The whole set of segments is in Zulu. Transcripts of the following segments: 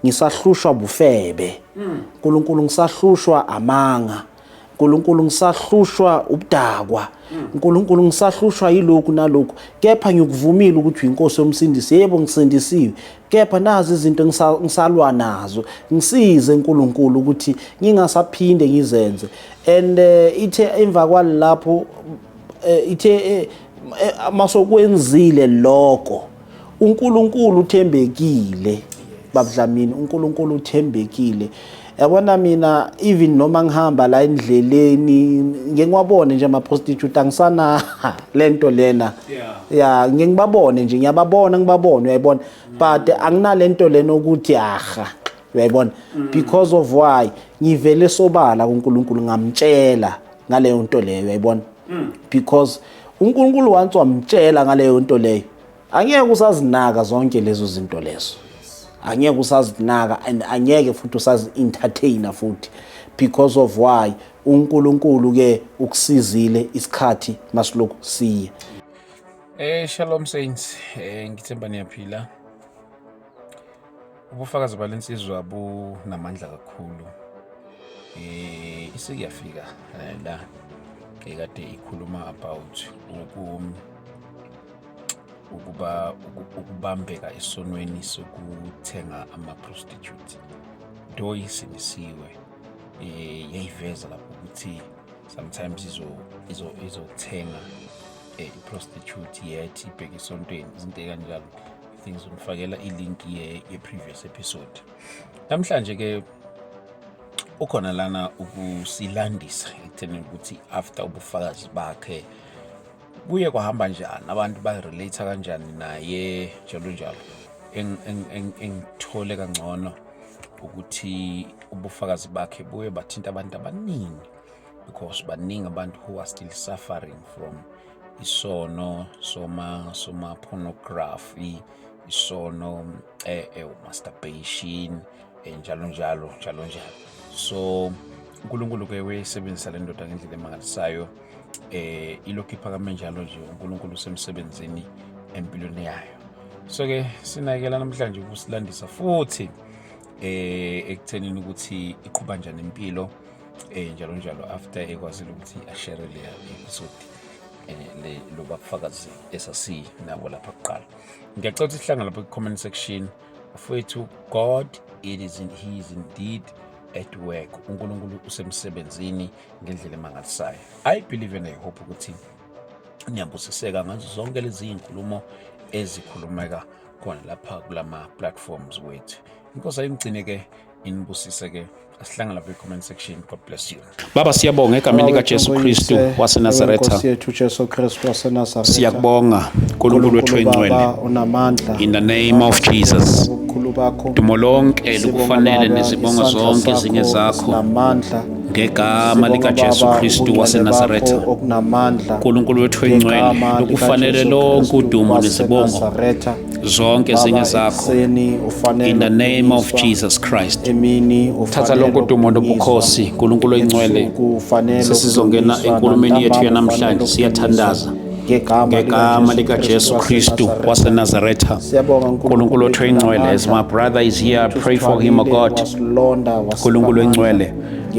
ngisahlushwa bufebe nkulunkulu ngisahlushwa amanga nkulunkulu ngisahlushwa ubudakwa nkulunkulu ngisahlushwa yilokhu nalokhu kepha ngikuvumile ukuthi uyinkosi yomsindisi yebo ngisindisiwe kepha nazi izinto engisa- ngisalwa nazo ngisize nkulunkulu ukuthi ngingasaphinde ngizenze and eh, ithe emva kwalapho eh, ithe eh, eh, masokwenzile lokho uNkulunkulu uthembekile babudlamini uNkulunkulu uthembekile yabona mina even noma ngihamba la endleleni ngeke ngiwabone nje ama-prostitute angisana le nto lena ya ngeke ngibabone nje ngiyababona ngibabone uyayibona but anginale nto lena ukuthi aha uyayibona mm. because of why ngivele sobala kuNkulunkulu ngamtshela ngaleyo nto leyo uyayibona mm. because uNkulunkulu once wamtshela ngaleyo nto leyo angeke usazinaka zonke lezo zinto lezo angeke usazinaka and angeke futhi usazi-entertainer futhi because of why uNkulunkulu ke ukusizile isikhathi masilokhu siye Eh shalom saints eh ngithemba niyaphila Ubufakazi bale nsizwa bunamandla kakhulu. Eh isikuyafika eh, la ekade ikhuluma about uku ukuba ukubambeka esonweni sokuthenga ama-prostitute do isinisiwe um eh, yayiveza lapho ukuthi sometimes izothenga um eh, i-prostitute yet ibheke esontweni izinto ekanjalo ngizomfakela ilink ye, ye previous episode namhlanje ke ukhona lana ukusilandisa ekutheni ukuthi after ubufakazi bakhe kuye kwahamba njani abantu barelate kanjani naye njalo njalo engithole kangcono ukuthi ubufakazi bakhe buye bathinta abantu abaningi because baningi abantu who are still suffering from isono soma soma pornography isono eh, eh masturbation eh, njalo njalo njalo njalo so uNkulunkulu ke wayesebenzisa le ndoda ngendlela emangalisayo eh ilokhu iphakame njalo nje uNkulunkulu usemsebenzini empilweni yayo so ke sinayekela namhlanje ukusilandisa futhi eh ekuthenini ukuthi iqhuba njani impilo eh njalo njalo after ekwazile ukuthi ashere le episode eh, le lo bafakazi esasi nabo lapha kuqala ngiyacela ukuthi sihlangane lapha ku-comment section mfowethu god it is in, he is indeed at work unkulunkulu usemsebenzini ngendlela emangalisayo i believe and i hope ukuthi niyabusiseka ngazo zonke lezi iy'nkulumo ezikhulumeka khona lapha kulama-platforms wethu inkosi ayimgcine-ke inibusise ke asihlangana lapha comment section god bless you baba siyabonga egameni likajesu kristu wasenazaretha siyakubonga nkulunkulu wethu oyingcwele in the name of jesus dumo lonke lukufanele nezibongo zonke ezinye zakho ngegama likaJesu Kristu waseNazaretha uNkulunkulu wethu oyingcwele ukufanele lonke udumo nezibongo zonke ezinye zakho in the name of jesus christ thatha lonke udumo nobukhosi nkulunkulu oyingcwele sesizongena enkulumeni yethu yanamhlanje siyathandaza ngegama likajesu kristu wasenazaretha nkulunkulu othu oyingcwele as my brother is here pray for him o god nkulunkulu oyingcwele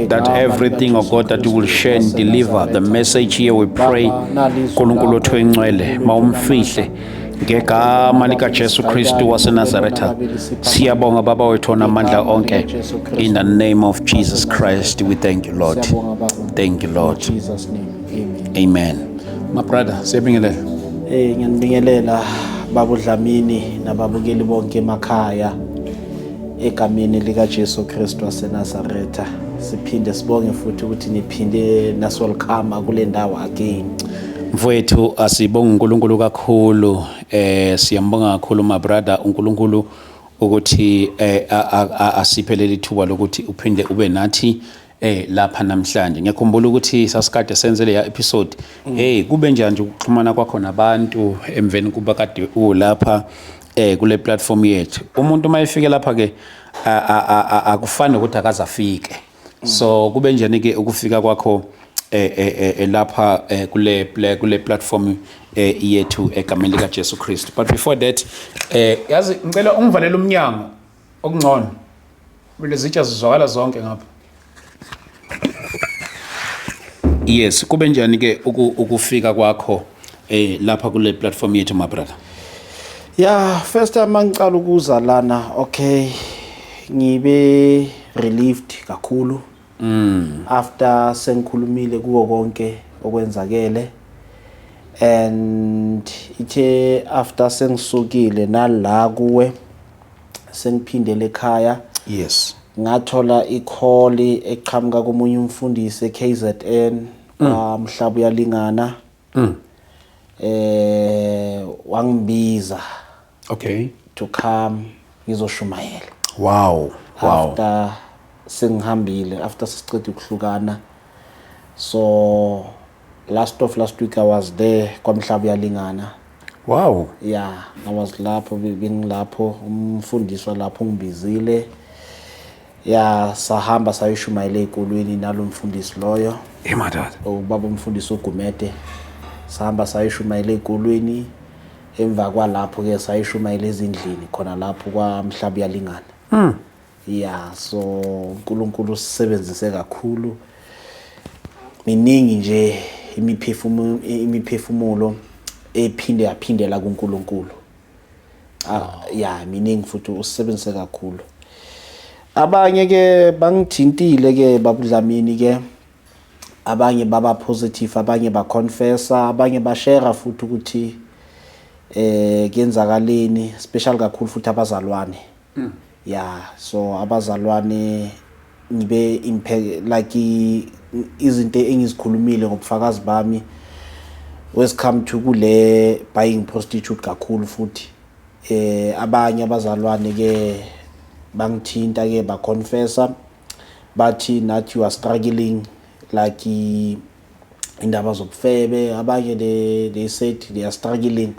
that everything, oh God, that you will share and deliver the message here, we pray. Nkulunkulu othu oyingcwele mawumfihle ngegama likaJesu Kristu waseNazaretha siyabonga baba wethu onamandla onke in the name of Jesus Christ we thank you Lord thank you Lord amen my brother siyabingelela eh ngiyanibingelela babu Dlamini nababukeli bonke emakhaya egameni likaJesu Kristu waseNazaretha siphinde sibonge futhi ukuthi niphinde nasolkhama kule ndawo again Mfowethu asibonga uNkulunkulu kakhulu eh siyambonga kakhulu my brother uNkulunkulu ukuthi eh asiphe leli thuba lokuthi uphinde ube nathi eh lapha namhlanje ngiyakhumbula ukuthi sasikade senze leya episode mm. hey kube njani nje ukuxhumana kwakho nabantu emveni kuba kade ulapha eh kule platform yethu umuntu uma efike lapha ke akufani ukuthi akazafike so kube njani ke ukufika kwakho eh, eh, eh, eh, lapha eh, kule pla- kule platform eh, yethu egameni lika Jesu Kristu but before that eh yazi ngicela ungivalele umnyango okungcono kumele zitsha zizwakala zonke ngapha yes kube njani ke uku- ukufika kwakho eh lapha kule platform yethu my brother yeah first time angicala ukuza lana okay ngibe relieved kakhulu mm after sengikhulumile kuwo konke okwenzakele and ithe after sengisukile nala kuwe sengiphindele ekhaya yes ngathola ikholi eqhamuka komunye umfundisi eKZN mm. mhlaba uyalingana mm. eh wangibiza okay to come ngizoshumayela wow wow after sengihambile after sicede ukuhlukana so last of last week i was there kwamhlaba uyalingana wow yeah i was lapho bengilapho umfundiswa lapho ungibizile ya sahamba sayoshumayela ey'kolweni nalo mfundisi loyo emadala ubaba umfundisi ugumede sahamba sayoshumayela ey'kolweni emva kwalapho-ke sayoshumayela ezindlini khona lapho kwamhlaba uyalingana mm. ya so unkulunkulu usisebenzise kakhulu miningi nje imiphefumulo ephinde yaphindela kunkulunkulu ah ya miningi futhi usebenzise kakhulu abanye ke bangithintile ke babudlamini ke abanye baba positive abanye ba confessa abanye ba share futhi ukuthi eh kuyenzakaleni special kakhulu futhi abazalwane Mm. Yeah, so abazalwane ngibe imphe like izinto engizikhulumile ngobufakazi bami wes come to kule buying prostitute kakhulu futhi eh abanye abazalwane ke bangithinta ke ba confessa bathi nathi you are struggling like indaba zobufebe abanye they, they said they are struggling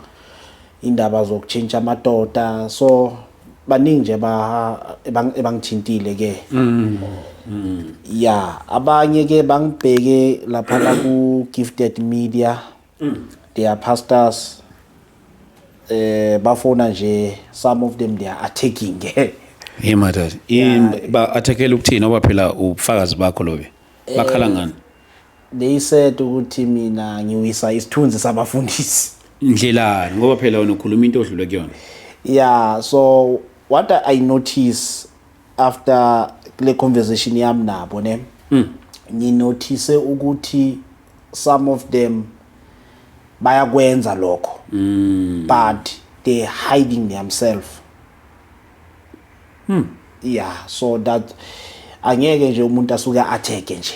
indaba zokutshintsha amadoda so baningi nje ebangithintile ke mm. mm. ya abanye ke bangibheke lapha la ku gifted media mm. they are pastors eh bafona nje some of them they are attacking ke Hey madoda, ba attackela ukuthini oba phela ubufakazi bakho lobe? Bakhala ngani? They said ukuthi mina ngiwisa isithunzi sabafundisi. Ndlelani ngoba phela wena ukhuluma into odlule kuyona. Yeah, so what I notice after le conversation yami nabo ne. Mm. Nginothise ukuthi some of them bayakwenza lokho. Mm. But they hiding themselves. Hmm. Yeah, so that angeke nje umuntu asuke atheke nje.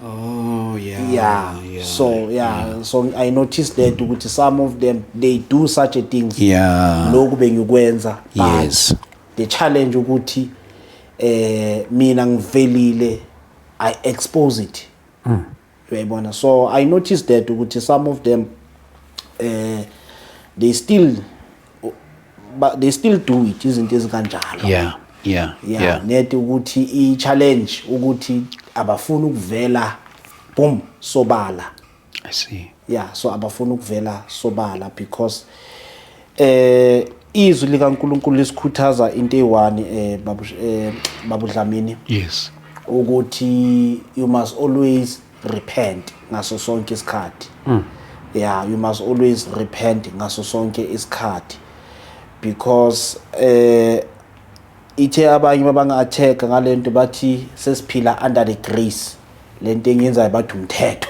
Oh yeah. Yeah. yeah so yeah, yeah. so I noticed that ukuthi some of them they do such a thing. Yeah. Lokhu bengikwenza. Yes. The challenge ukuthi eh mina ngivelile I expose it. Mm. uyayibona so i noticed that ukuthi some of them eh uh, they still but they still do it izinto ezikanjalo yeah yeah yeah, yeah. nedi ukuthi i challenge ukuthi abafuni ukuvela boom sobala i see yeah so abafuni ukuvela sobala because Eh izwi likaNkuluNkulu lisikhuthaza into eyiwani eh babu eh babudlamini. Yes. Ukuthi you must always repent ngaso sonke isikhathi. Mm. Yeah, you must always repent ngaso sonke isikhathi because eh ithe abanye babanga attack ngalento bathi sesiphila under the grace lento engenzayo bathi umthetho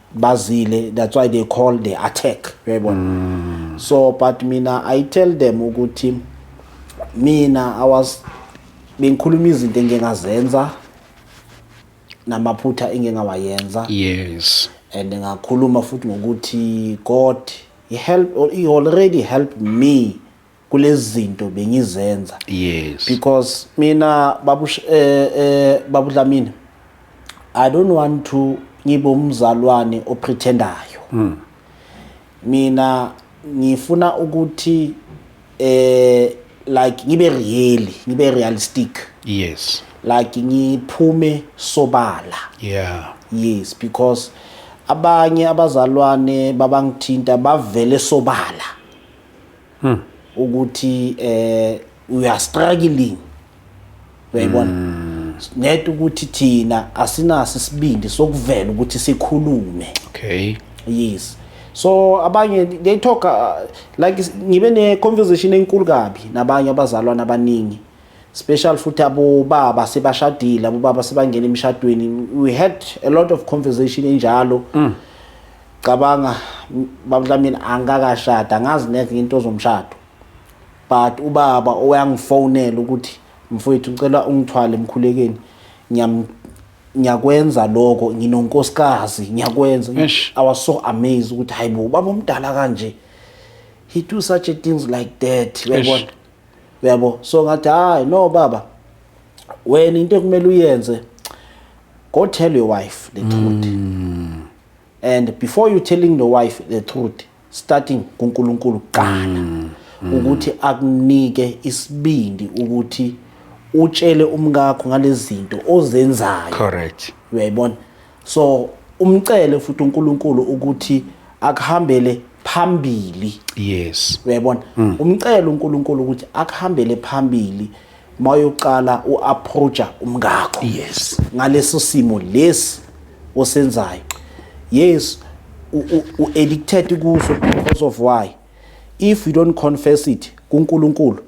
bazile that's why they call the attack uyayibona mm. so but mina i tell them ukuthi mina i was bengikhuluma izinto engingazenza namaphutha engingawayenza yes and ngakhuluma futhi ngokuthi god he help or he already helped me kulezi zinto bengizenza yes because mina babu eh, eh babu Dlamini i don't want to ngibe umzalwane oprethendayo mm. mina ngifuna ukuthi eh like ngibe real ngibe realistic yes like ngiphume sobala yeah yes because abanye abazalwane babangithinta bavele sobala hmm. ukuthi eh we are struggling uyayibona hmm. net ukuthi thina asinaso isibindi sokuvela ukuthi sikhulume okay yes so abanye they talk uh, like ngibe ne conversation enkulu kabi nabanye abazalwana abaningi special futhi abobaba sebashadile abobaba sebangena emshadweni we had a lot of conversation enjalo mm. Cabanga bamdlamini angikakashada angazi neke into zomshado but ubaba oyangifonela ukuthi mfowethu ngicela ungithwale emkhulekeni ngiyakwenza lokho nginonkosikazi ngiyakwenza i was so amazed ukuthi hayibo ubaba omdala kanje he do such a things like that uyabona uyabo so ngathi hayi no baba wena into ekumele uyenze go tell your wife the truth mm. and before you telling the wife the truth starting kuNkulunkulu kuqala mm, mm. ukuthi akunike isibindi ukuthi utshele umkakho ngalezinto ozenzayo correct uyayibona so umcele futhi uNkulunkulu ukuthi akuhambele phambili yes uyayibona mm. umcela uNkulunkulu ukuthi akuhambele phambili mawuyoqala uapproacha umngakho yes ngaleso simo lesi osenzayo yes u addicted kuso because of why if you don't confess it kuNkulunkulu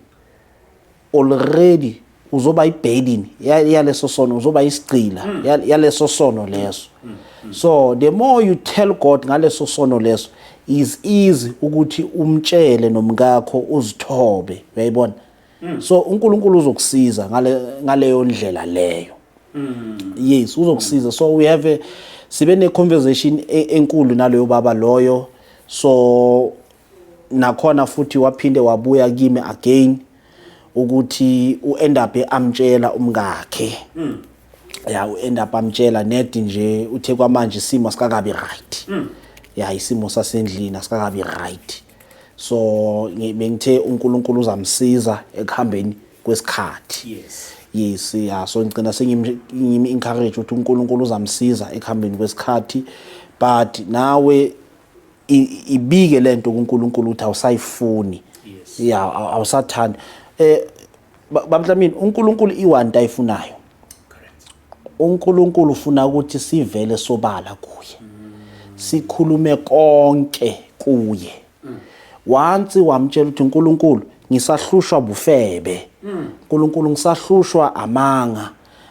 already uzoba ibailini yaleso sono uzoba isigcila hmm. yaleso sono leso hmm. Hmm. so the more you tell God ngaleso sono leso is easy ukuthi umtshele nomkakho uzithobe uyayibona mm. so uNkulunkulu uzokusiza ngale ngaleyo ndlela leyo mm. yes uzokusiza so we have a, sibe ne conversation e, enkulu naloyo baba loyo so nakhona futhi waphinde wabuya kimi again ukuthi uend up amtshela umkakhe mm. ya uend up amtshela nedi nje uthe kwamanje isimo sikakabi right mm. ya isimo sasendlini asikakabi right so bengithe uNkulunkulu uzamsiza ekuhambeni kwesikhathi yes yes ya so ngicela sengimi encourage ukuthi uNkulunkulu uzamsiza ekuhambeni kwesikhathi but nawe ibike lento kuNkulunkulu ukuthi awusayifuni yes ya awusathanda eh bablamini uNkulunkulu iwanti ayifunayo UNkulunkulu ufuna ukuthi sivele sobala kuye. Sikhulume konke kuye. Wansi wamtshela ukuthi uNkulunkulu ngisahlushwa bufebe. uNkulunkulu ngisahlushwa amanga.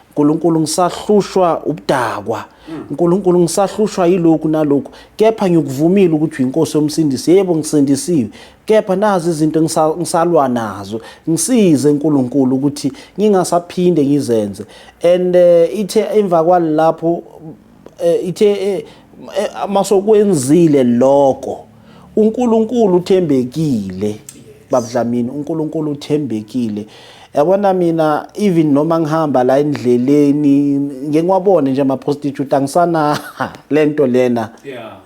uNkulunkulu ngisahlushwa ubudakwa. uNkulunkulu ngisahlushwa yilokhu nalokhu kepha ngikuvumile ukuthi uyinkosi yomsindisi. Yebo ngisindisiwe kepha nazi izinto ngisalwa nazo ngisize uNkulunkulu ukuthi ngingasaphinde ngizenze and uh, ithe emva kwalapho uh, ithe uh, masokwenzile lokho uNkulunkulu uthembekile babudlamini uNkulunkulu uthembekile yabona mina even noma ngihamba la endleleni ngeke ngiwabone nje ama-prostitute angisana le nto lena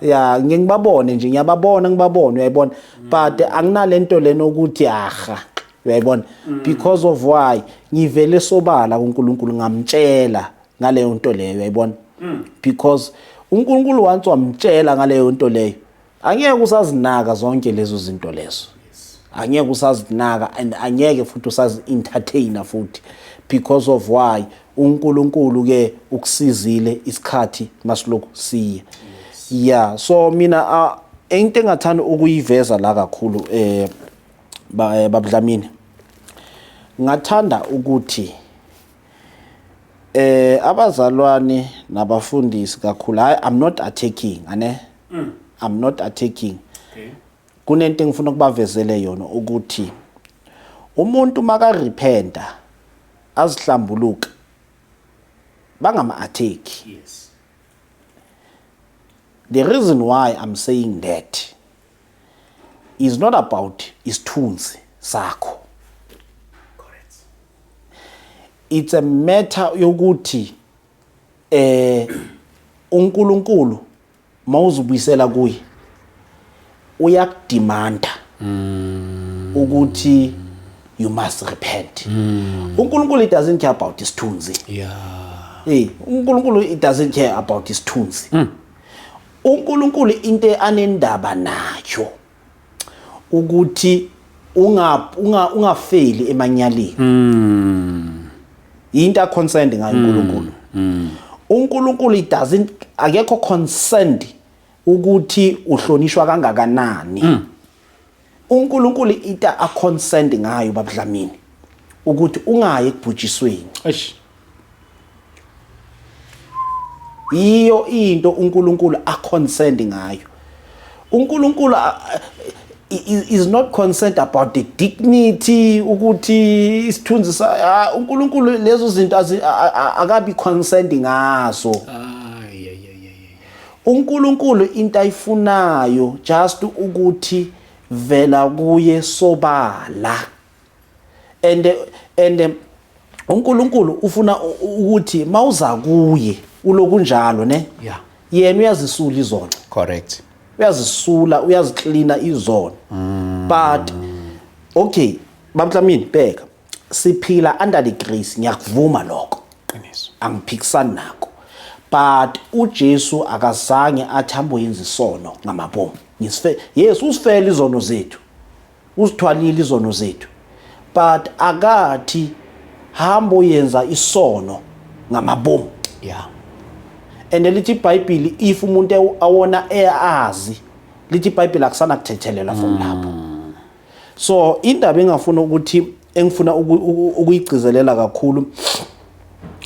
ya ngeke ngibabone nje ngiyababona ngibabone uyayibona mm. but anginale nto lena ukuthi aha uyayibona mm. because of why ngivele sobala kuNkulunkulu ngamtshela ngaleyo nto leyo uyayibona mm. because uNkulunkulu once wamtshela ngaleyo nto leyo angeke usazinaka zonke lezo zinto lezo angeke usazinaka and angeke futhi usazi-entertainer futhi because of why unkulunkulu ke ukusizile isikhathi masilokhu siya yeah so mina uh, into engathanda ukuyiveza la kakhulu eh, eh babudlamini ngathanda ukuthi eh abazalwane nabafundisi kakhulu hayi i'm not attacking ane mm. i'm not attacking okay. kunento engifuna ukubavezele yona ukuthi umuntu makarepenta azihlambuluka bangama-attack yes. the reason why i'm saying that is not about isithunzi sakho it's a matter yokuthi eh uNkulunkulu mawuzubuyisela kuye uyakudimanda mm. ukuthi you must repent mm. uNkulunkulu it doesn't care about isithunzi yeah hey uNkulunkulu it doesn't care about isithunzi mm. uNkulunkulu into anendaba nayo ukuthi unga unga ungafeli emanyaleni mm. into a concerned ngayo mm. uNkulunkulu mm. uNkulunkulu it doesn't akekho concerned ukuthi uhlonishwa kangakanani mm. uNkulunkulu ita a concerned ngayo babudlamini ukuthi ungayi ekubhujisweni eish yiyo into uNkulunkulu aconcerned ngayo uNkulunkulu is not concerned about the dignity ukuthi isithunzi sa uNkulunkulu lezo zinto akabi concerned ngazo uNkulunkulu into ayifunayo just ukuthi vela kuye sobala and and uNkulunkulu ufuna ukuthi mawuza kuye ulokunjalo ne yeah yena uyazisula izono correct uyazisula uyaziklina izono mm. but okay bamtlamini bheka siphila under the grace ngiyakuvuma lokho qiniso angiphikisani nako but uJesu akazange athambo yenza isono ngamabomu ngisife yes usifela izono zethu Uzithwalile izono zethu but akathi hambo yenza isono ngamabomu. Yeah. And lithi iBhayibheli if umuntu ewu- awona eyazi lithi iBhayibheli akusana kuthethelela from lapho. So indaba engafuna ukuthi engifuna ukuyigcizelela kakhulu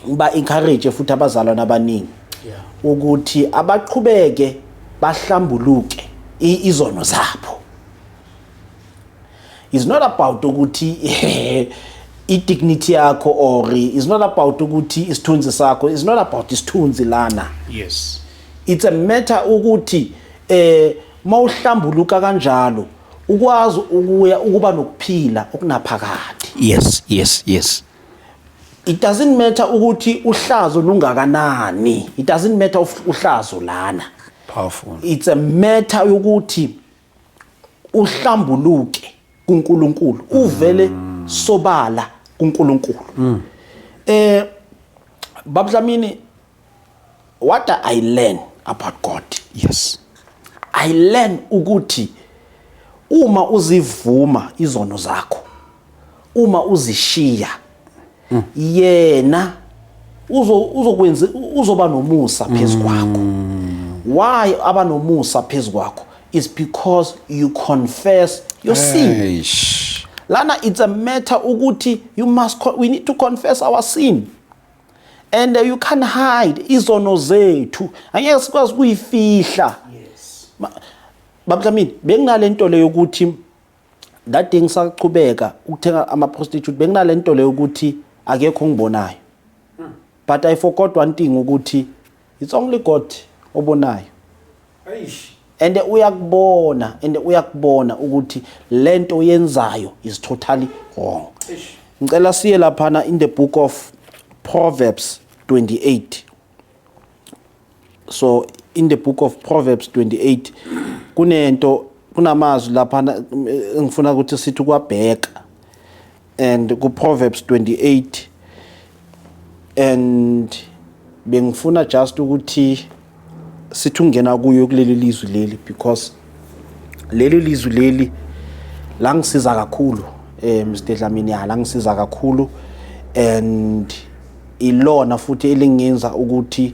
ba encourage futhi abazalwana abaningi ukuthi abaqhubeke bahlambuluke izono zabo is not about ukuthi i-dignity yakho or is not about ukuthi isithunzi sakho is not about isithunzi lana yes it's a matter ukuthi eh Uma uhlambuluka kanjalo ukwazi ukuya ukuba nokuphila okunaphakade. Yes, yes, yes. It doesn't matter ukuthi uhlazo lungakanani. It doesn't matter of uhlazo lana. Powerful. It's a matter yokuthi uhlambuluke kuNkulunkulu, uvele mm. sobala kuNkulunkulu. Mm. Eh babudlamini what i learn about god yes i learn ukuthi uma uzivuma izono zakho uma uzishiya mm. yena uzo uzokwenza uzoba nomusa phezu kwakho mm. why aba nomusa phezu kwakho is because you confess your sin lana it's a matter ukuthi you must we need to confess our sin and you can hide izono zethu angeke sikwazi kuyifihla yes babudlamini benginalento le yokuthi that day ngisaqhubeka ukuthenga ama prostitute benginalento le yokuthi akekho ngibonayo hmm. but i forgot one thing ukuthi It's only God obonayo. Eish. And uyakubona and uyakubona ukuthi lento yenzayo is totally wrong. Eish. Ngicela siye laphana in the book of Proverbs 28. So in the book of Proverbs 28 kunento kunamazwi lapha engifuna ukuthi sithi kwabheka and ku Proverbs 28 and bengifuna just ukuthi sithi ungena kuyo kuleli lizwi leli because leli lizwi leli la ngisiza kakhulu eh Mr Dlamini ya la ngisiza kakhulu and ilona futhi elingenza ukuthi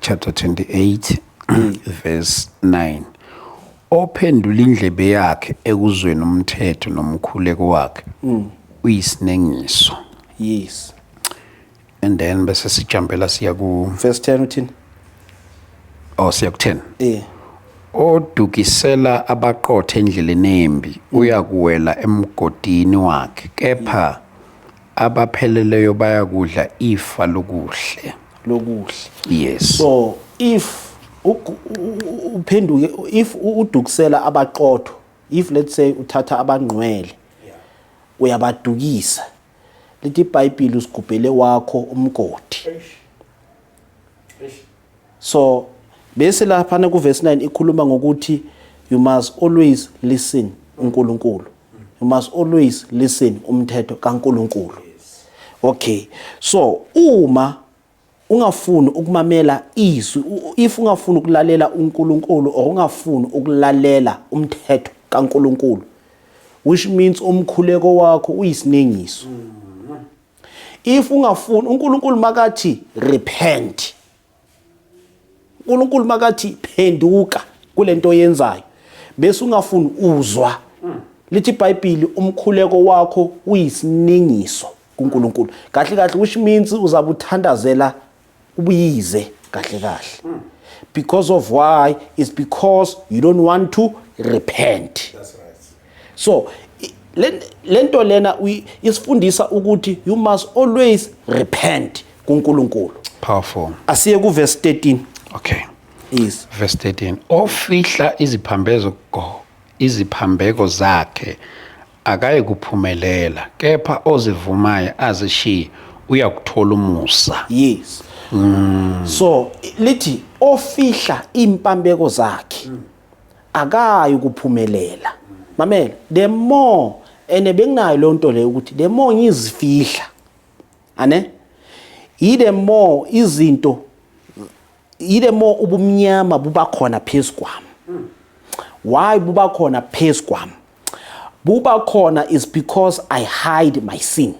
chapter 28 verse 9 ophendula indlebe yakhe ekuzweni umthetho nomkhuleko wakhe mm. uyisinengiso yes and then bese sijampela siya ku verse 10 uthini oh siya ku 10 eh odukisela abaqothe endleleni embi uyakuwela emgodini wakhe kepha abapheleleyo bayakudla ifa lokuhle lokuhle yes so if uphenduke if udukusela abaqotho if let's say uthatha abangqwele uyabadukisa lithi ibhayibhile usigubhele wakho umgodi So bese laphana ku verse 9 ikhuluma ngokuthi you must always listen uNkulunkulu. You must always listen umthetho kaNkulunkulu. Okay. So uma ungafuni ukumamela izwi if ungafuni ukulalela uNkulunkulu or ungafuni ukulalela umthetho kaNkulunkulu which means umkhuleko wakho uyisinengiso. Mm. if ungafuni uNkulunkulu makathi repent uNkulunkulu makathi phenduka kulento oyenzayo bese ungafuni uzwa lithi iBhayibheli umkhuleko wakho uyisiningiso kuNkulunkulu kahle kahle which means uzabuthandazela ubuyize kahle kahle hmm. because of why is because you don't want to repent That's right. so lento lena isifundisa ukuthi you must always repent kuNkulunkulu powerful asiye ku verse 13 okay is verse 13 ofihla iziphambeko iziphambeko zakhe akayikuphumelela kepha ozivumayo azishiye uyakuthola umusa yes mm. so lithi ofihla impambeko zakhe mm. akayi ukuphumelela mamela the more ene benginayo leyo nto leyo ukuthi the more ngizifihla ane yi the more izinto yile mo ubumnyama buba khona phezu kwami why buba khona phezu kwami buba khona is because i hide my sin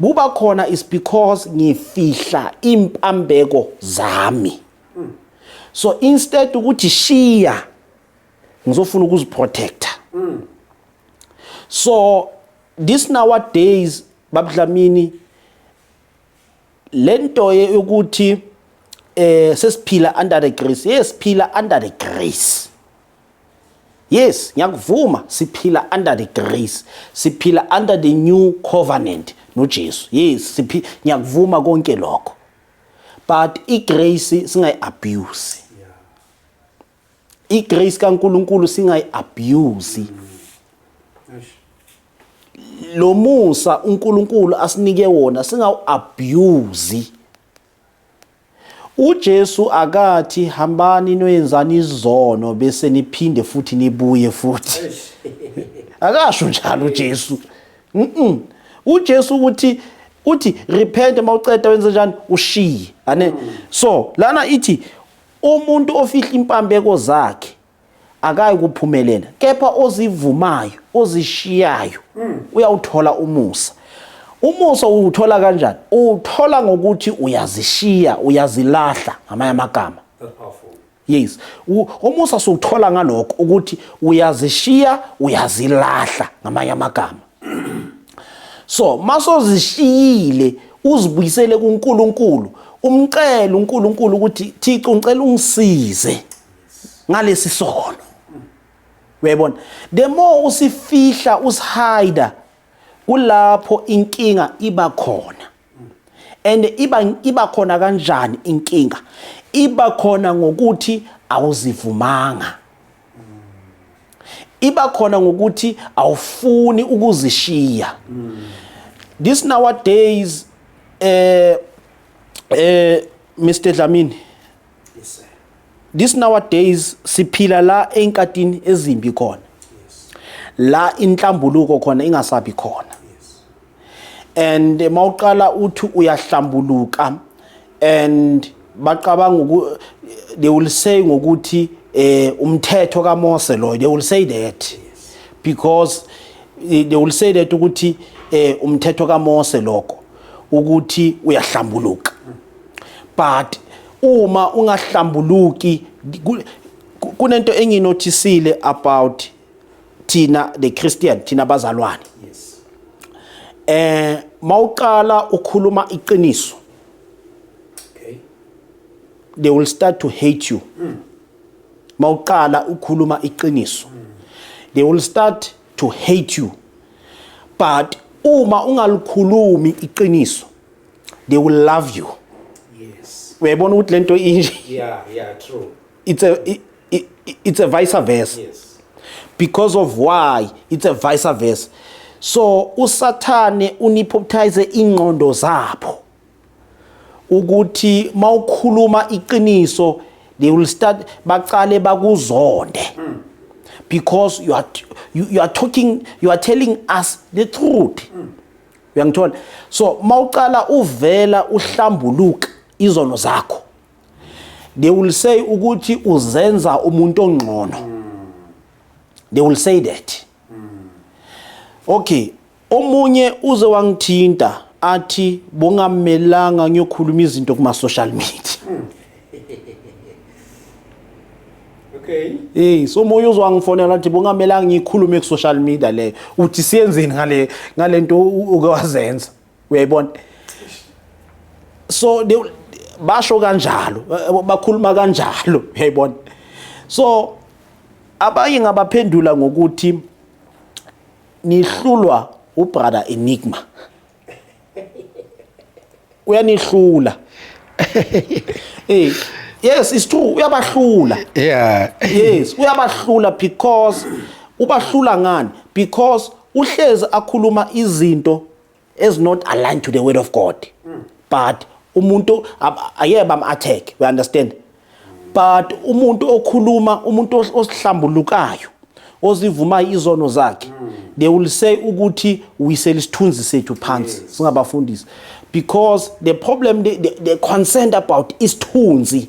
buba khona is because ngifihla impambeko zami so instead ukuthi shiya ngizofuna ukuziprotecta so this nowadays babudlamini lento yokuthi eh sesiphila under the grace yes siphila under the grace yes ngiyakuvuma siphila under the grace siphila under the new covenant noJesu yes siphi ngiyakuvuma konke lokho but igrace singayi abuse igrace kaNkuluNkulu singayiabuse lo musa uNkulunkulu asinike wona singawu-abuse uJesu akathi hambani noyenzani izono bese niphinde futhi nibuye futhi akasho njalo uJesu mhm uJesu ukuthi uthi repent mawuceda wenze njani ushiye ane so lana ithi Umuntu ofihla impambeko zakhe akayi kuphumelela kepha ozivumayo ozishiyayo mm. uyawuthola umusa umusa uwuthola kanjani uwuthola ngokuthi uyazishiya uyazilahla ngamanye amagama yes umusa siwuthola ngalokho ukuthi uyazishiya uyazilahla ngamanye amagama so masozishiyile uzibuyisele kuNkulunkulu umcela uNkulunkulu ukuthi Thixo ngicela ungisize ngalesi sono uyayibona the more usifihla usihida kulapho inkinga iba khona and iba iba khona kanjani inkinga iba khona ngokuthi awuzivumanga iba khona ngokuthi awufuni ukuzishiya this nowadays eh eh Mr Dlamini yes sir this nowadays siphila la enkatini ezimbi khona la inhlambuluko khona ingasabi khona and mawuqala uthi uyahlambuluka and bacabanga they will say ngokuthi eh umthetho kaMose lo they will say that because eh, they will say that ukuthi eh umthetho kaMose lokho ukuthi uyahlambuluka but uma ungahlambuluki kunento enginothisile about thina the Christian thina bazalwane yes eh mawuqala ukhuluma iqiniso okay they will start to hate you mm. mawuqala ukhuluma iqiniso mm. they will start to hate you but uma ungalikhulumi iqiniso they will love you yes uyayibona ukuthi lento inje yeah yeah true it's a it, I- i- it's a vice versa because of why it's a vice versa so usathane unipoptize ingqondo zabo ukuthi mawukhuluma iqiniso they will start baqale bakuzonde because you are you, you are talking you are telling us the truth uyangithola so mawuqala uvela uhlambuluka izono zakho they will say ukuthi uzenza umuntu ongcono they will say that okay omunye uze wangithinta athi bongamelanga ngiyokhuluma izinto kuma social media Okay. Eh so moyo uzwa ngifonela athi bongamelanga ngikhulume ku social media le uthi siyenzeni ngale ngalento uke wazenza uyayibona so they, basho kanjalo eh, bakhuluma kanjalo uyayibona so abanye ngabaphendula ngokuthi nihlulwa ubrother enigma uyanihlula eh yes it's true uyabahlula yeah yes uyabahlula because ubahlula ngani because uhlezi akhuluma izinto is not aligned to the word of God mm. but umuntu ayeke bam attack we understand but umuntu okhuluma umuntu osihlambulukayo ozivumayo izono zakhe mm. they will say ukuthi wisela isithunzi sethu phansi singabafundisi because the problem they, they, they concerned about isithunzi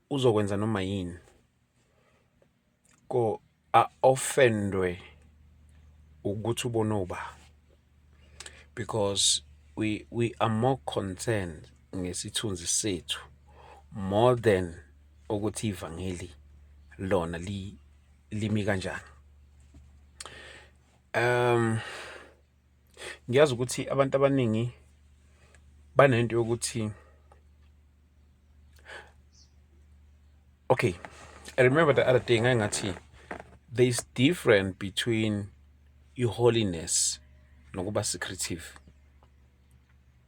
uzokwenza noma yini ko a offendwe ukuthi ubona uba because we we are more concerned ngesithunzi sethu more than ukuthi ivangeli lona li limi kanjani um Ngiyazi ukuthi abantu abaningi banento yokuthi okay i remember the other day ngathi there is different between i-holiness nokuba secretive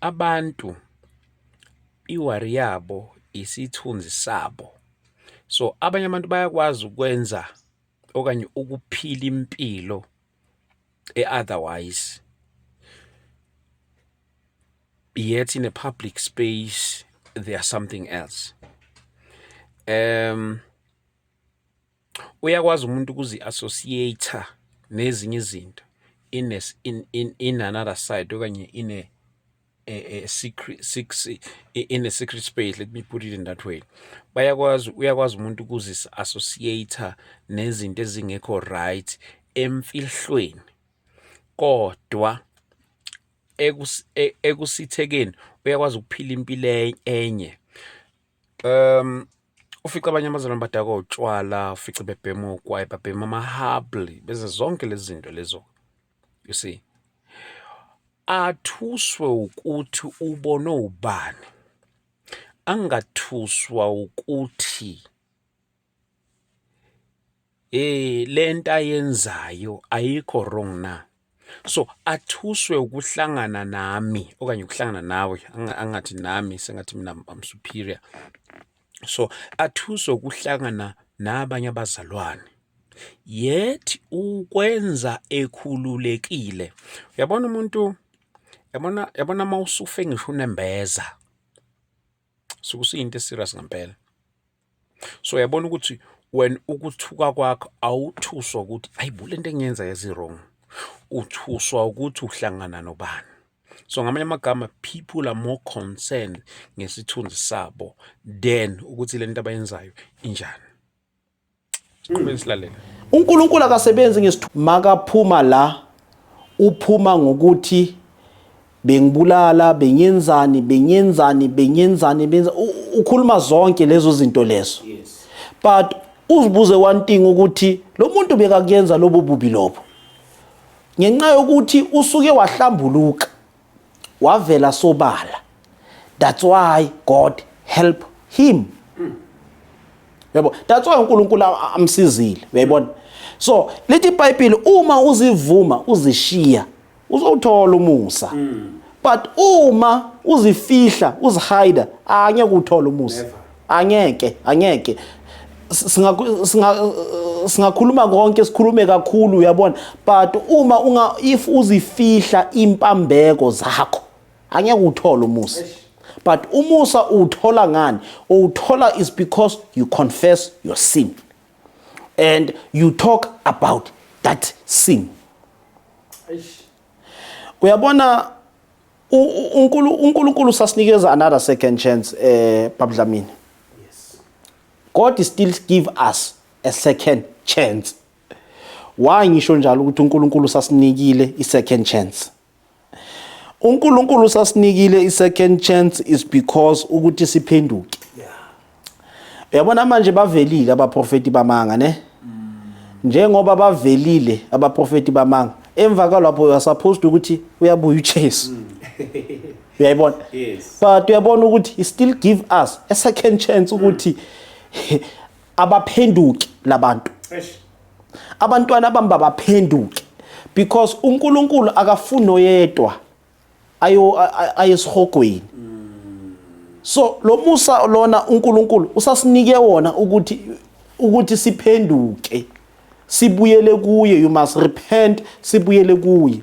abantu iwari yabo isithunzi sabo so abanye abantu bayakwazi ukwenza okanye ukuphila impilo e-otherwise yet in a public space they are something else um Uyakwazi umuntu ukuzi-associate nezinye izinto in, a, in, in, in another side okanye in a, a, a secret, six, in a secret space let me put it in that way bayakwazi uyakwazi umuntu ukuzi-associate nezinto ezingekho right emfihlweni kodwa e, ekusithekeni uyakwazi ukuphila impilo e, enye Ufica abanye abazalwane badakwa utshwala, ufice bebhema ogwayi, babhema amahabli, beze zonke lezi zinto lezo. You see? Athuswe ukuthi ubone ubani. Angathuswa ukuthi eh lento ayenzayo ayikho wrong na so athuswe ukuhlangana nami okanye ukuhlangana nawe angathi nami sengathi mina I'm superior so athuswe ukuhlangana nabanye abazalwane yet ukwenza ekhululekile uyabona umuntu yabona yabona mawusufe ngisho unembeza sukusiyinto eserious ngempela so uyabona ukuthi wena ukuthuka kwakho awuthuswa ukuthi ayibo le nto engiyenza yezi-wrong uthuswa ukuthi uhlangana nobani so ngamanye amagama people are more concerned ngesithunzi sabo than ukuthi le nto abayenzayo injani Siqhubeke silalele. uNkulunkulu akasebenzi ngesithuko makaphuma la uphuma ngokuthi bengibulala bengenzani bengenzani bengenzani benza u- ukhuluma zonke lezo zinto lezo but uzibuze one thing ukuthi lo muntu bekakuyenza lobo bubi lobo ngenxa yokuthi usuke wahlambuluka wavela sobala that's why god help him yabo that's why uNkulunkulu amsizile uyayibona so lithi iBhayibheli uma uzivuma uzishiya uzowuthola umusa but uma uzifihla uzihide angeke uthole umusa Angeke, angeke. singakhuluma konke sikhulume kakhulu uyabona but uma unga if uzifihla impambeko zakho angeke uthole umusa but umusa uwuthola ngani uwuthola is because you confess your sin and you talk about that sin uyabona uNkulunkulu sasinikeza another second chance eh babudlamini yes God is still give us a second chance why ngisho njalo ukuthi uNkulunkulu sasinikile i second chance uNkulunkulu sasinikile i second chance is because ukuthi siphenduke Uyabona manje bavelile abaprofeti bamanga ne? Njengoba bavelile abaprofeti bamanga. Emva kwalapho you are supposed ukuthi uyabuya uJesu. Uyayibona? Yes. But uyabona ukuthi he still give us a second chance ukuthi abaphenduki labantu. Eish. Abantwana bami babaphenduki because uNkulunkulu akafuni oyedwa. ayo ayesihogweni so lo musa lona uNkulunkulu usasinike wona ukuthi ukuthi siphenduke sibuyele kuye you must repent sibuyele kuye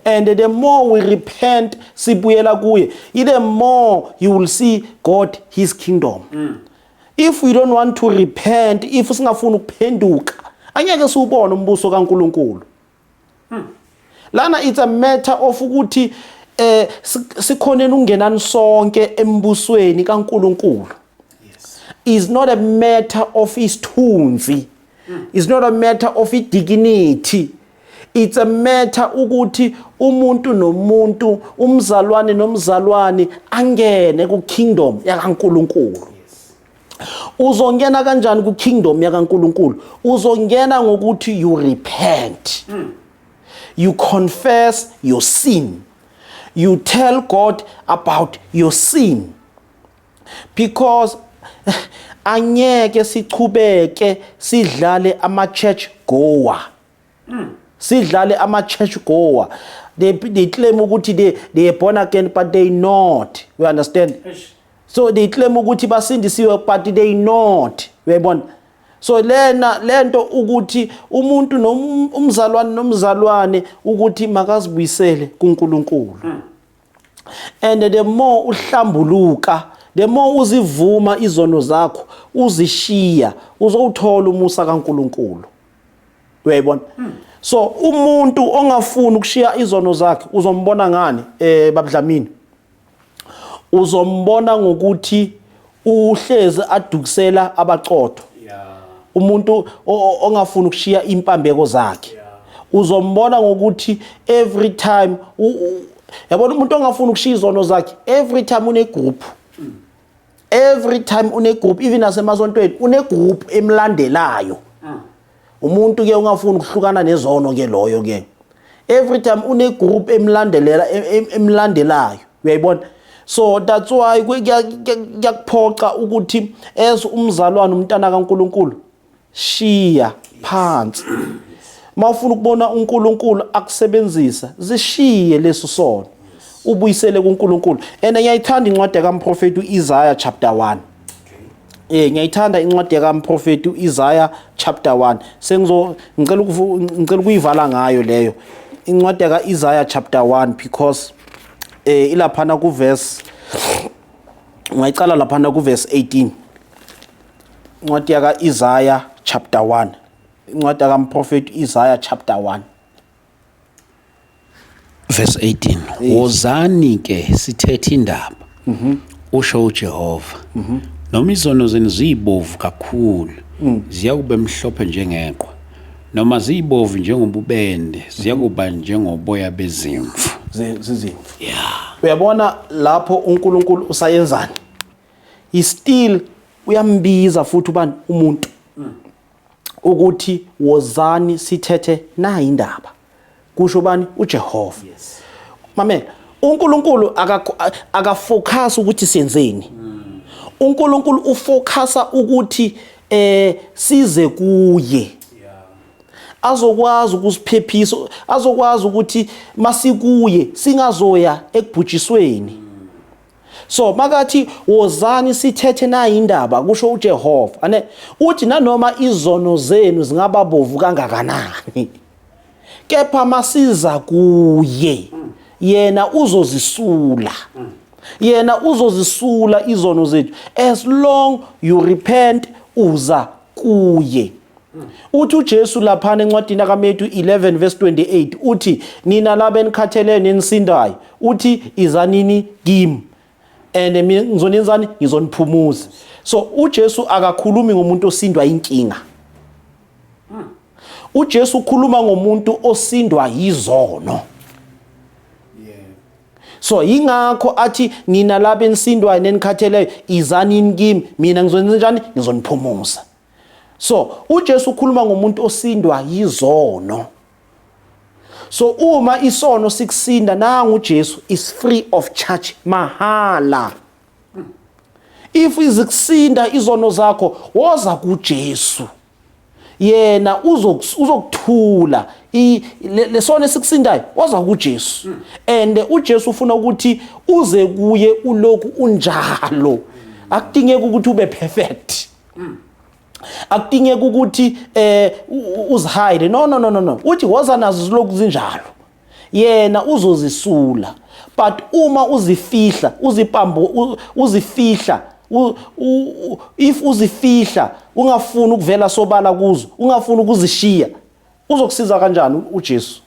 and the more we repent sibuyela kuye the more you will see God his kingdom mm. if we don't want to repent if singafuni ukuphenduka angeke siwubone umbuso kaNkuluNkulu Hmm. Lana it's a matter of ukuthi eh sikhoneni ungenani sonke embusweni kaNkuluNkulu. Yes. Is not a matter of isithunzi. Hmm. Is not a matter of idignity. it's a matter ukuthi umuntu nomuntu umzalwane nomzalwane angene ku kingdom yakaNkuluNkulu uzongena kanjani ku kingdom ya kaNkuluNkulu uzongena ngokuthi you repent mm. you confess your sin you tell God about your sin because angeke sichubeke sidlale ama church goer mm. sidlale ama-church goer they, they claim ukuthi they, they are born again but they not you understand Eish. so they claim ukuthi basindisiwe but they not uyayibona so lena lento ukuthi umuntu nomzalwane um, nomzalwane ukuthi makazibuyisele kuNkulunkulu hmm. and the more uhlambuluka the more uzivuma izono zakho uzishiya uzowuthola umusa kaNkulunkulu uyayibona hmm. so umuntu ongafuni ukushiya izono zakhe uzombona ngani eh babudlamini uzombona ngokuthi uhlezi adukisela abaqotho umuntu ongafuni ukushiya impambeko zakhe uzombona ngokuthi every time yabona umuntu ongafuni ukushiya izono zakhe every time une group every time une group even asemasontweni une group emlandelayo mm. umuntu ke ungafuni ukuhlukana nezono ke loyo ke every time une group emlandelela emlandelayo uyayibona so that's why kuyakuphoxa ukuthi as umzalwane umntana kaNkuluNkulu shiya phansi mawufuna ukubona uNkulunkulu akusebenzisa zishiye leso sono ubuyisele kuNkulunkulu and ngiyayithanda incwadi kaMprofeti uIsaiah chapter 1 Eh ngiyayithanda incwadi kaMprofeti uIsaiah chapter 1 sengizo ngicela ngicela ukuyivala ngayo leyo incwadi kaIsaiah chapter 1 because eh ilaphana kuverse ngayicala laphana kuverse 18 Incwadi yaka Isaiah chapter 1. Incwadi yaka mprofeti Isaiah chapter 1. Verse 18. Wozani ke sithethe indaba. Mhm. Usho uJehova. Mhm. Noma izono zenu ziyibovu kakhulu, mm. ziyakube mhlophe njengeqwa. Noma ziyibovu njengobubende, ziyakuba mhm. njengoboya bezimvu. Zizimvu. Yeah. Uyabona lapho uNkulunkulu usayenzani? he still uyambiza futhi ubani umuntu mm. ukuthi wozani sithethe nayi indaba kusho bani uJehova yes mamela uNkulunkulu akafocus ukuthi senzeni mm. uNkulunkulu ufocusa ukuthi eh size kuye azokwazi ukusiphephisa azokwazi ukuthi masikuye singazoya ekubhujisweni So makathi wozani sithethe nayi indaba kusho uJehova. Ane uthi nanoma izono zenu zingaba bovu kangakanani. Kepha masiza kuye yena uzozisula. Yena uzozisula izono zethu as long you repent uza kuye. Uthi uJesu laphana encwadini kaMetu 11 verse 28 uthi nina laba enikhathele nenisindayo uthi izanini kimi and mina ngizonenzani ngizoniphumuza. So uJesu akakhulumi ngomuntu osindwa inkinga. uJesu ukhuluma ngomuntu osindwa yizono so yingakho athi nina laba enisindwayo nenikhatheleyo izani yini kimi mina ngizonenza njani ngizoniphumuza so uJesu ukhuluma ngomuntu osindwa yizono so uma isono sikusinda nangu uJesu is free of charge mahala if izikusinda izono zakho woza kuJesu yena uzokuthula lesona esikusindayo waza kuJesu hmm. and uJesu ufuna ukuthi uze kuye uloku unjalo akudingeki ukuthi ube perfect hmm. akudingeki ukuthi eh uzihide no no no no uthi woza nazo ziloku zinjalo yena uzozisula but uma uzifihla uzipambo uzifihla if uzifihla ungafuni ukuvela sobala kuzo ungafuni ukuzishiya uzokusiza kanjani uJesu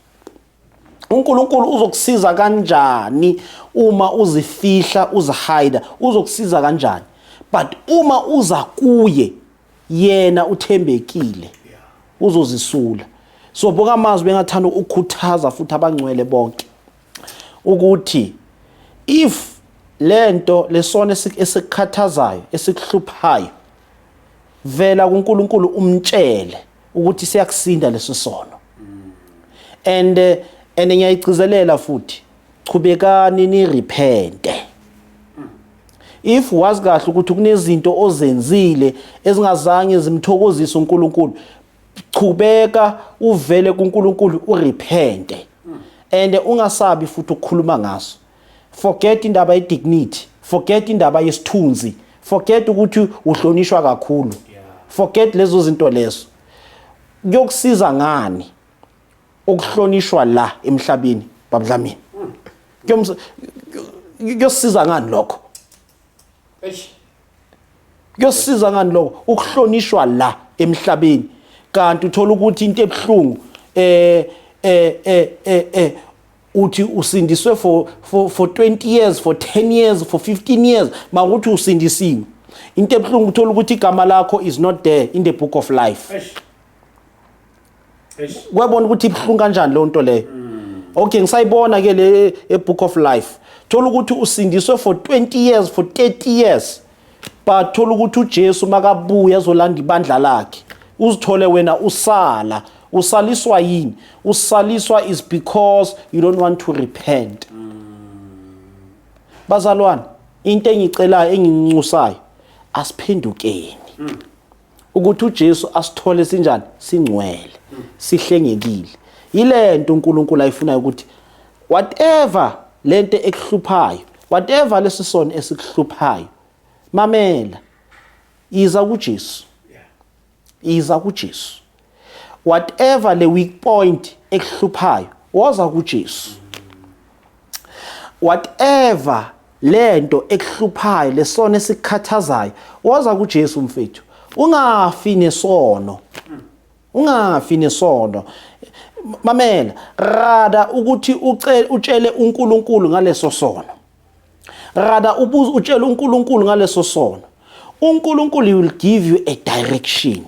uNkulunkulu uzokusiza kanjani uma uzifihla uzihide uzokusiza kanjani but uma uza kuye yena uthembekile uzozisula so boka amazwi bengathanda ukukhuthaza futhi abangcwele bonke ukuthi if lento lesona esikhathazayo esikuhluphayo vela kuNkulunkulu umtshele ukuthi siyakusinda leso sono and eh, and ngiyayigcizelela futhi chubekani ni repente If wazi kahle ukuthi kunezinto ozenzile ezingazange zimthokozise uNkulunkulu, chubeka uvele kuNkulunkulu urepente. And ungasabi futhi ukukhuluma ngaso. Forget indaba ye dignity, forget indaba yesithunzi, forget ukuthi uhlonishwa kakhulu. Forget lezo zinto lezo. Kuyokusiza ngani? okuhlonishwa la emhlabeni babudlamini kuyomsa kuyosiza ngani lokho eish kuyosiza ngani lokho ukuhlonishwa la emhlabeni kanti uthola ukuthi into ebuhlungu eh eh eh eh, eh uthi usindiswe for for for 20 years for 10 years for 15 years makuthi usindisiwe into ebuhlungu uthola ukuthi igama lakho is not there in the book of life eish kwabona ukuthi ibuhlungu kanjani leyo nto leyo mm. okay ngisayibona ke le ebook of life thola ukuthi usindiswe for 20 years for 30 years but thola ukuthi uJesu makabuya ezolanda ibandla lakhe uzithole wena usala usaliswa yini usaliswa is because you don't want to repent mm. bazalwane into engicelayo engincusayo asiphendukeni mm. ukuthi uJesu asithole sinjani singcwele sihlengekile yilento uNkulunkulu ayifunayo ukuthi whatever lento ekuhluphayo whatever lesisono esikuhluphayo mamela iza kuJesu iza kuJesu whatever le weak point ekuhluphayo woza kuJesu whatever lento ekuhluphayo lesona esikhathazayo woza kuJesu mfethu ungafi nesono ungafi nesono mamela rada ukuthi utshele uNkulunkulu ngaleso sono rada ubuze utshele uNkulunkulu ngaleso sono uNkulunkulu will give you a direction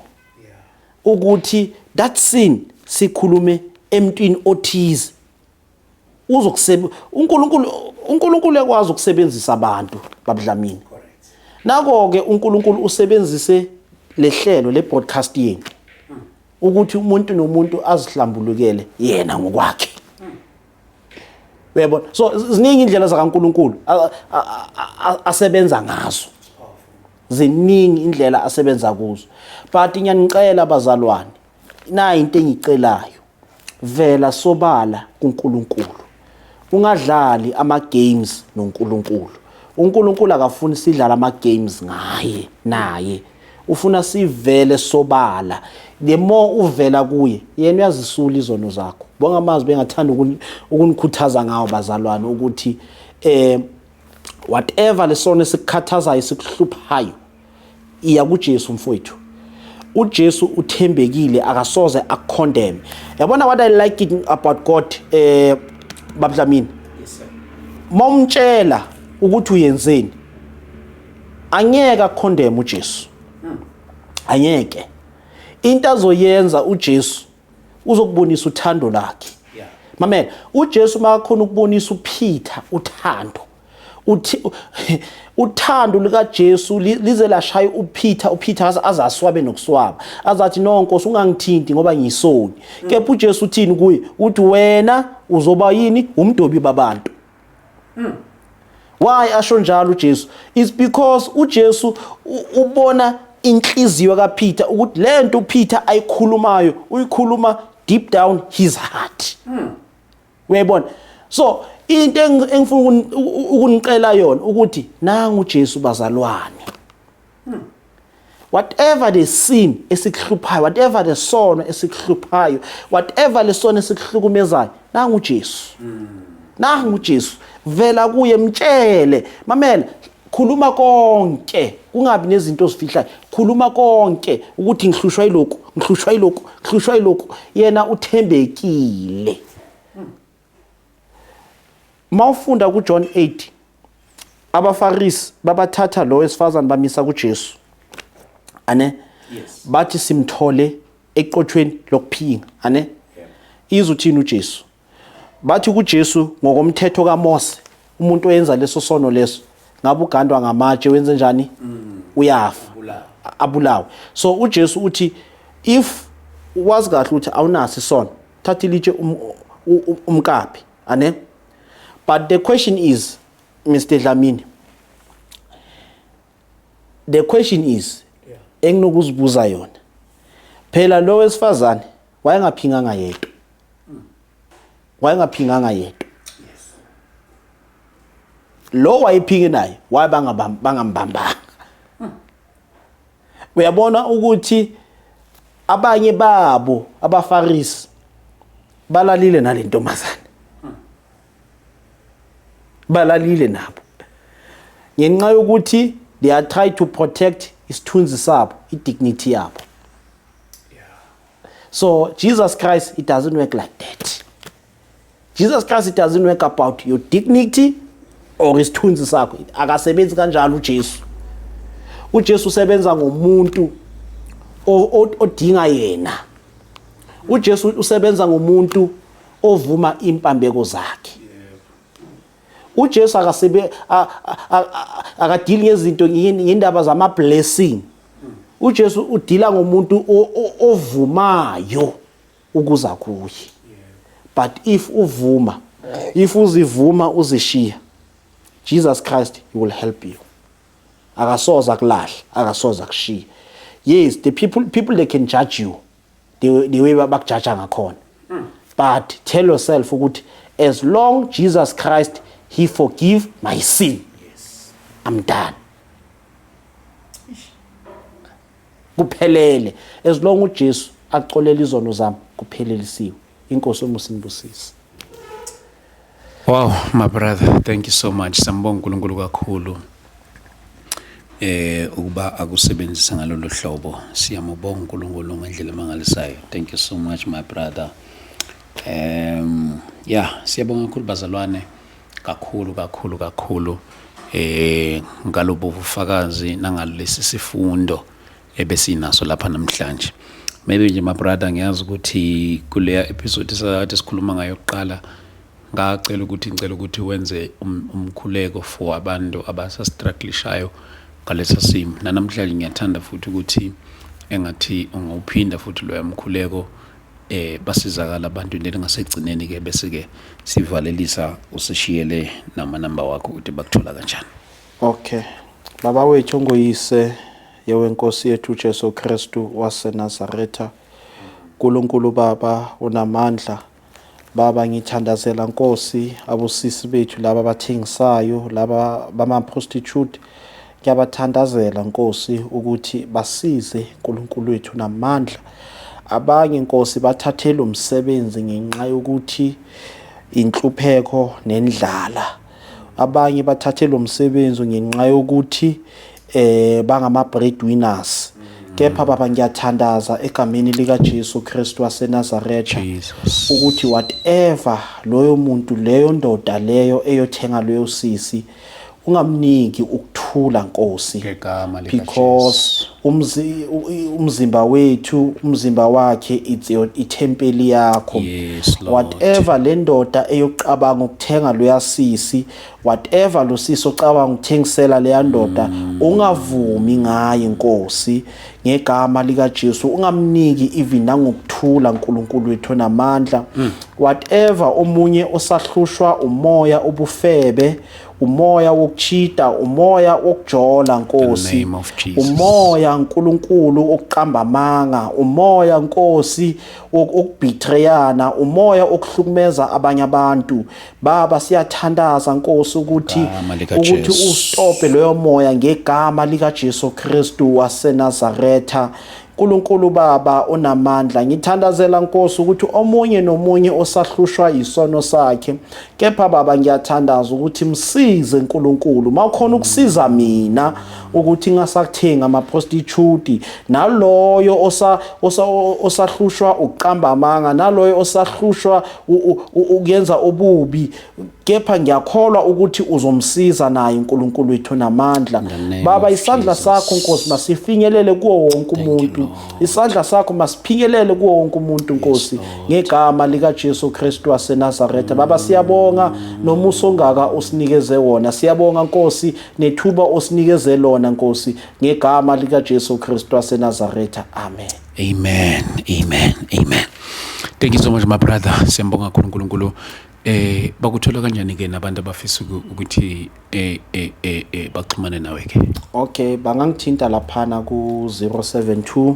ukuthi that sin sikhulume emntwini othize uzokusebe uNkulunkulu uNkulunkulu ekwazi ukusebenzisa abantu babudlamini nako ke uNkulunkulu usebenzise lehlelo le broadcast yenu ukuthi umuntu nomuntu azihlambulukele yena ngokwakhe uyabona so ziningi indlela zakaNkuluNkulu asebenza ngazo ziningi indlela asebenza kuzo but ngiyanicela bazalwane nayi into engicelayo vela sobala kuNkulunkulu ungadlali ama games noNkulunkulu uNkulunkulu akafuni sidlala ama games ngaye naye ufuna sivele sobala the more uvela kuye yena uyazisula izono zakho bonga amazwi bengathanda ukunikhuthaza ngawo bazalwane ukuthi eh whatever lesona esikukhathazayo sikuhluphayo iya kuJesu mfowethu uJesu uthembekile akasoze akucondemn yabona what i like it about god eh babdlamini yes sir momtshela ukuthi uyenzeni angeke akucondemn uJesu hmm. angeke into azoyenza uJesu uzokubonisa uthando lakhe mamela uJesu makakhona ukubonisa uPeter uthando uthi uthando likaJesu lize lashaya uPeter uPeter azaswabe nokuswaba azathi no Nkosi ungangithinti ngoba ngisoni mm. kepha uJesu uthini kuye uthi wena uzoba yini umdobi babantu Mm. Why asho njalo uJesu? It's because uJesu ubona inhliziyo kaPeter ukuthi lento uPeter ayikhulumayo uyikhuluma deep down his heart. Mm. Uyayibona? So into engifuna ukunicela yona ukuthi nangu uJesu bazalwane. Hmm. Whatever the sin esikuhluphayo, whatever the sono esikuhluphayo, whatever lesono esikuhlukumezayo, nangu Jesu. Hmm. Nangu Jesu. Vela kuye mtshele, mamela khuluma konke kungabi nezinto ozifihlayo khuluma konke ukuthi ngihlushwa iloku ngihlushwa iloku ngihlushwa iloku yena uthembekile Mawufunda kuJohn 8 abaFarisi babathatha lo wesifazane bamisa kuJesu. Ane bathi simthole eqothweni lokuphinga. Ane izwe uthini uJesu? Bathi kuJesu ngokomthetho kaMose umuntu oyenza leso sono leso ngabe ugandwa ngamatshe wenze njani? Mm. Uyafa. Abulawe. So uJesu uthi if wazi kahle ukuthi awunasi isono thatha ilitshe um, umkaphi ane but the question is Mr Dlamini the question is enginokuzibuza yona phela lo wesifazane wayengaphinganga yedwa wayengaphinganga yedwa lo wayephinge naye wayebangabambanga Uyabona ukuthi abanye babo abafarisi balalile nalentombazane. Balalile nabo. Ngenxa yokuthi they are trying to protect isithunzi sabo, i-dignity yabo. So Jesus Christ, it doesn't work like that. Jesus Christ it doesn't work about your dignity or isithunzi sakho akasebenzi kanjalo uJesu uJesu usebenza ngomuntu odinga yena uJesu usebenza ngomuntu ovuma impambeko zakhe uJesu akasebe akadili ngezinto ngendaba zama blessing uJesu udila ngomuntu ovumayo ukuza kuye but if uvuma if uzivuma uzishiya Jesus Christ he will help you akasoza kulahle akasoza kushiya yes the people people they can judge you the, the way bakujaja ngakhona hmm. but tell yourself ukuthi as long Jesus Christ he forgive my sin yes. I'm done kuphelele as long uJesu axolela izono zami kuphelelisiwe inkosi umusa inibusise Wow my brother thank you so much sambonga uNkulunkulu kakhulu eh ukuba akusebenzisa ngalolu hlobo siyamubonga uNkulunkulu ngendlela emangalisayo thank you so much my brother um yeah siyabonga kakhulu bazalwane kakhulu kakhulu kakhulu eh ngalobu bufakazi nangalesi sifundo ebesinaso lapha namhlanje maybe nje my brother ngiyazi ukuthi kuleya episode sakade sikhuluma ngayo kuqala ngacela ukuthi ngicela ukuthi wenze um, umkhuleko for abantu abasastrugglishayo ngalesa simo nanamhlanje ngiyathanda futhi ukuthi engathi ungawuphinda futhi loya mkhuleko eh basizakala abantu leli ngasekugcineni ke bese ke sivalelisa usishiyele nama number wakho ukuthi bakuthola kanjani okay baba wethu ongoyise yewenkosi yethu Jesu Kristu waseNazaretha uNkulunkulu baba unamandla Baba ngithandazela Nkosi abusisi bethu laba bathengisayo laba bama prostitute Ngiyabathandazela Nkosi ukuthi basize Nkulunkulu wethu namandla. Abanye Nkosi bathathela umsebenzi ngenxa yokuthi inhlupheko nendlala. Abanye bathathela umsebenzi ngenxa yokuthi eh bangama breadwinners. Kepha mm. baba ngiyathandaza egameni lika Jesu Kristu waseNazareth ukuthi whatever loyo muntu leyo ndoda leyo eyothenga leyo sisi ungamniki ukuthula Nkosi ngegama lika because umzi, u- i- umzimba wethu umzimba wakhe it's your ithempeli yakho Yes, Lord. whatever le ndoda eyokucabanga ukuthenga loya sisi whatever lo sisi ocabanga ukuthengisela leya ndoda ungavumi ngaye Nkosi ngegama likaJesu ungamniki even nangokuthula uNkulunkulu wethu onamandla mm. whatever omunye osahlushwa umoya obufebe umoya wokuchita umoya wokujola nkosi umoya uNkulunkulu okuqamba amanga umoya nkosi okubhitreyana umoya okuhlukumeza abanye abantu Baba siyathandaza Nkosi ukuthi Igama lika ukuthi Jesu. ustope loyo moya ngegama lika Jesu Kristu waseNazaretha. Nkulunkulu Baba onamandla ngithandazela Nkosi ukuthi omunye nomunye osahlushwa yisono sakhe kepha Baba ngiyathandaza ukuthi msize Nkulunkulu mawukhona ukusiza mina ukuthi ngasakuthenga ama prostitute naloyo osa osa- osahlushwa ukuqamba amanga naloyo osahlushwa ukuyenza obubi kepha ngiyakholwa ukuthi uzomsiza naye uNkulunkulu wethu namandla baba isandla sakho Nkosi masifinyelele kuwo wonke umuntu isandla sakho masiphinyelele kuwo wonke umuntu Nkosi ngegama lika Jesu Kristu waseNazaretha baba mm. siyabonga nomusa ongaka usinikeze wona siyabonga Nkosi nethuba osinikeze lona Nkosi ngegama lika Jesu Kristu waseNazaretha amen Amen. Amen. Amen. Thank you so much my brother. Siyambonga kakhulu uNkulunkulu. Eh bakuthola kanjani ke nabantu abafisa ukuthi eh eh eh, eh baxhumane nawe ke? Okay, bangangithinta laphana ku 072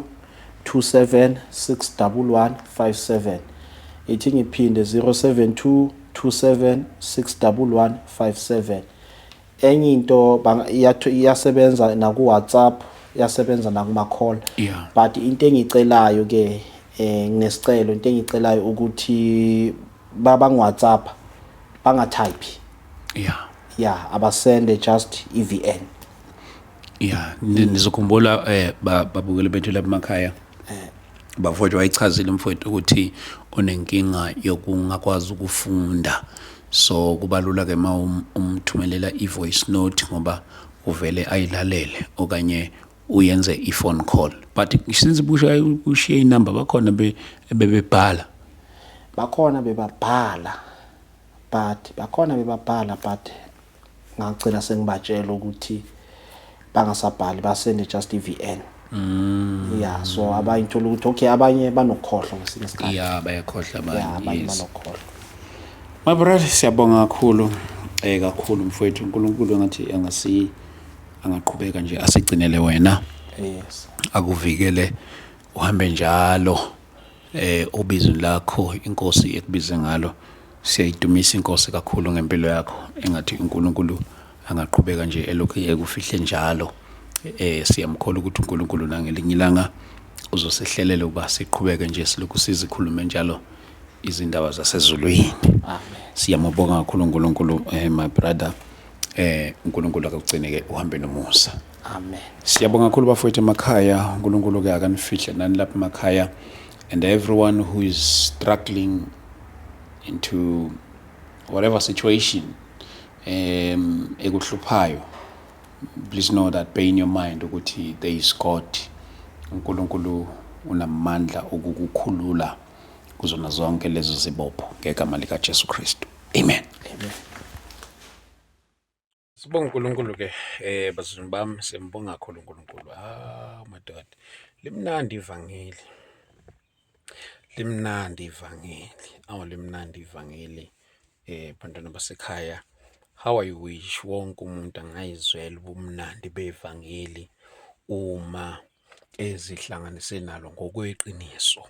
27611157. Ithi ngiphinde 072 27611157. enye into iyasebenza naku-whatsapp iyasebenza nakuma-call yeah. but into engiyicelayo ke eh nginesicelo into engiyicelayo ukuthi babangu-whatsapp bangathayiphi yeah yeah abasende just evn yeah nizokhumbula eh babukele bethu lapha emakhaya Bafowethu wayichazile mfowethu ukuthi unenkinga yokungakwazi ukufunda so kubalula ke uma um, umthumelela i-voice note ngoba uvele ayilalele okanye uyenze i-phone call but since bushaye ushiye inamba bakhona be- bebebhala bakhona bebabhala but bakhona bebabhala but ngagcina sengibatshela ukuthi bangasabhali basende just i-VN mm. yeah so abanye uthola ukuthi okay abanye banokhohlwa ngesinye isikhathi yeah bayakhohlwa abanye yeah, abanye yes. banokhohlwa my brother siyabonga kakhulu eh kakhulu mfowethu uNkulunkulu ngathi angasi angaqhubeka nje asigcinele wena yes akuvikele uhambe njalo Eh ubizo lakho inkosi ekubize ngalo siyayidumisa inkosi kakhulu ngempilo yakho engathi uNkulunkulu angaqhubeka nje elokhu ekufihle njalo eh siyamkhola ukuthi uNkulunkulu nangelinye ilanga uzosihlelela uba siqhubeke nje silokhu sizikhulume njalo izindaba zasezulwini siyamubonga kakhulu uNkulunkulu eh my brother eh uNkulunkulu akugcineke uhambe nomusa Amen. Siyabonga kakhulu bafowethu emakhaya. uNkulunkulu ke akanifihle nani lapha emakhaya and everyone who is struggling into whatever situation um ekuhluphayo please know that bear in your mind ukuthi there is God uNkulunkulu unamandla okukukhulula kuzona zonke lezo zibopho ngegama likaJesu Kristu amen, amen. Sibonga uNkulunkulu ke eh bazulu bami sembonga kakhulu uNkulunkulu. Ah madoda. Limnandi ivangeli. Limnandi ivangeli. Awu limnandi ivangeli. Eh bantwana basekhaya. How I wish wonke umuntu angayizwela ubumnandi bevangeli uma ezihlanganise nalo ngokweqiniso,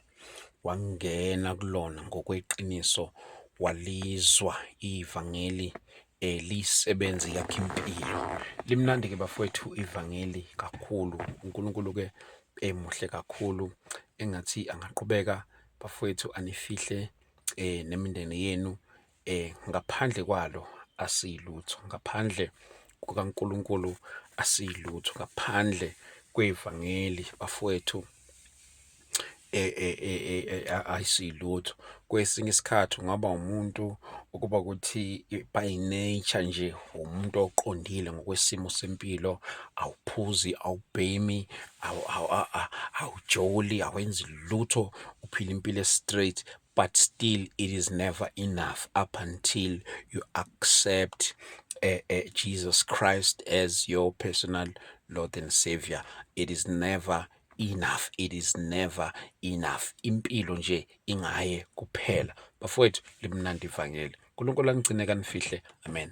wangena kulona ngokweqiniso, walizwa ivangeli eh lisebenzi yakhe impilo. Limnandi ke bafowethu ivangeli kakhulu. UNkulunkulu ke emuhle kakhulu engathi angaqhubeka bafowethu anifihle eh nemindeni yenu eh ngaphandle kwalo asiyilutho ngaphandle kukaNkuluNkulu asiyilutho ngaphandle kwevangeli bafowethu eh, eh, eh, ayisilutho kwesinye isikhathi ungaba umuntu ukuba ukuthi by nature nje umuntu oqondile ngokwesimo sempilo awuphuzi awubhemi awujoli awenzi lutho uphila impilo straight but still it is never enough up until you accept uh, uh, Jesus Christ as your personal Lord and Savior. It is never enough it is never enough impilo nje ingaye kuphela bafowethu limnandi ivangeli uNkulunkulu anigcine kanifihle amen